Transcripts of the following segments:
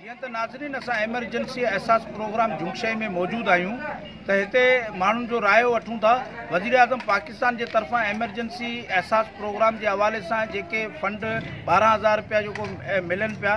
جيئن ته ناظرين اسان ايمرجنسي احساس پروگرام جھونگشي ۾ موجود آهيون ته هتي ماڻهن جو رايو وٺون ٿا وزيراعظم پاڪستان جي طرفان ايمرجنسي احساس پروگرام جي حوالي سان جيڪي فنڊ ٻارهن هزار رپيا جيڪو ملن پيا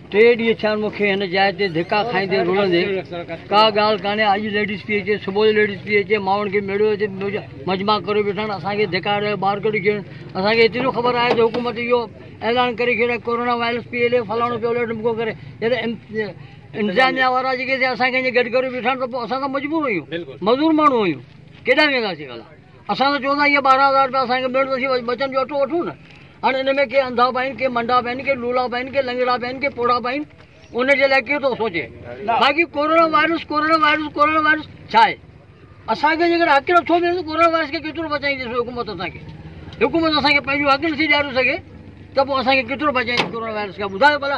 ٽي ڏينهن ٿيا آهن مون کي هن جاء تي ڌڪا کائيندي رلندي. ڪا ڳالهه ڪانهي اڄ ليڊيز پي اچي صبح جو ليڊيز پي اچي مائن کي ميڙيو هتي مجمع ڪريو ويٺا آهن اسان کي ڌڪا ڏيئي ٻاهر ڪڍي ڇڏين اسان کي ايتري خبر آهي ته حڪومت اهو اعلان ڪري ڇڏيو آهي ڪورونا وائرس پي ايل اي فلاڻو پيو ليڊ ڊمڪو ڪري جڏهن انتظاميا وارا جيڪي اسان کي اڃا گڏ ڪريو ويٺا آهن ته پوء اسان ته مجبور آهيون مزور ماڻهو آهيون ڪيڏانهن وينداسين ڀلا. اسان ته چوندا اهي ٻارهن هزار رپيا اسان کي ملڻ ته سهي ٻچن جو اٽو وٺون نه هاڻي ان ۾ ڪي انڌا به آهن ڪي منڊا به آهن ڪي لولا به آهن ڪي لنگڙا به آهن ڪي پوڙها به آهن ان جي لاء ڪير ٿو سوچي باقي corona virus corona virus corona virus ڇا آهي اسان کي جيڪڏهن حق نٿو ملي ته ڪورونا وائرس کي ڪيترو بچائيندي حڪومت اسان کي حڪومت اسان کي پنهنجو حق نٿي ڏياري سگهي ته پوء اسان کي ڪيترو بچائيندي ڪورونا وائرس کي ٻڌايو ڀلا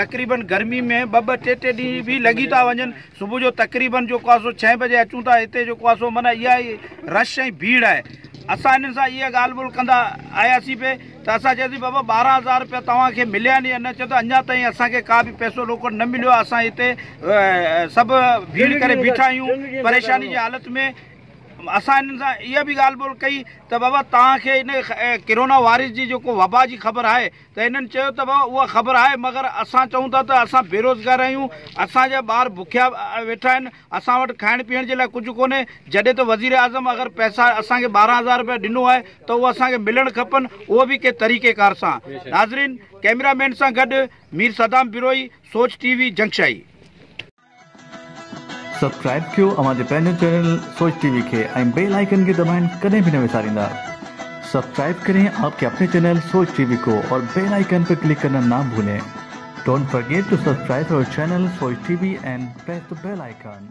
تقريبن گرمي ۾ ٻه ٻه ٽي ٽي ڏينهن به لڳي ٿا وڃن صبح جو تقريبن جيڪو آهي سو ڇهين بجي اچون ٿا هتي جيڪو آهي سو معنيٰ اها ئي رش ۽ ڀيڙ آهي اسان انهن سان اها ڳالهه ٻولهه ڪندا آياسين پئي ته اسان چياسين بابا ٻارهن هزار روپيا توهان کي مليا آهن يا نه چيو ته اڃا تائين اسان کي ڪا به پئسو روڪڙ نه مليو آهي اسان هتي سڀ ڀيڙ ڪري بيٺا آهيون پريشاني جي حالت ۾ اسان انهن سان اها به ڳالهه ٻولهه ڪئي ته بابا توهان کي ان ڪرونا وائرس جي جيڪو وبا جي خبر آهي ته هنن چيو ته بابا اها خبر آهي مگر اسان چئون ٿا ته اسان بيروزگار آهيون اسان جا ٻار بکيا ويٺا آهن اسان وٽ کائڻ پيئڻ جي لاء ڪجهه ڪونهي جڏهن ته وزيراعظم اگر پئسا اسان کي ٻارهن هزار روپيا ڏنو آهي ته اهو اسان کي ملڻ کپن اهو به ڪنهن طريقي ڪار سان ناظرين ڪئميرا مين سان گڏ Mir Saddam Brohi Soch T V Jungshahi. Subscribe ڪيو اوهان جي پنهنجو چينل سوچ ٽي وي کي ۽ بيل آئيڪن کي دٻائڻ ڪڏهن به نه وساريندا سبسڪرائب ڪرين آپ ڪي اپني چينل سوچ ٽي وي ڪو اور بيل آئيڪن پي ڪلڪ ڪرنا نا ڀولين ڊونٽ فرگيٽ ٽو سبسڪرائب اور channel Soch T V and press the bell icon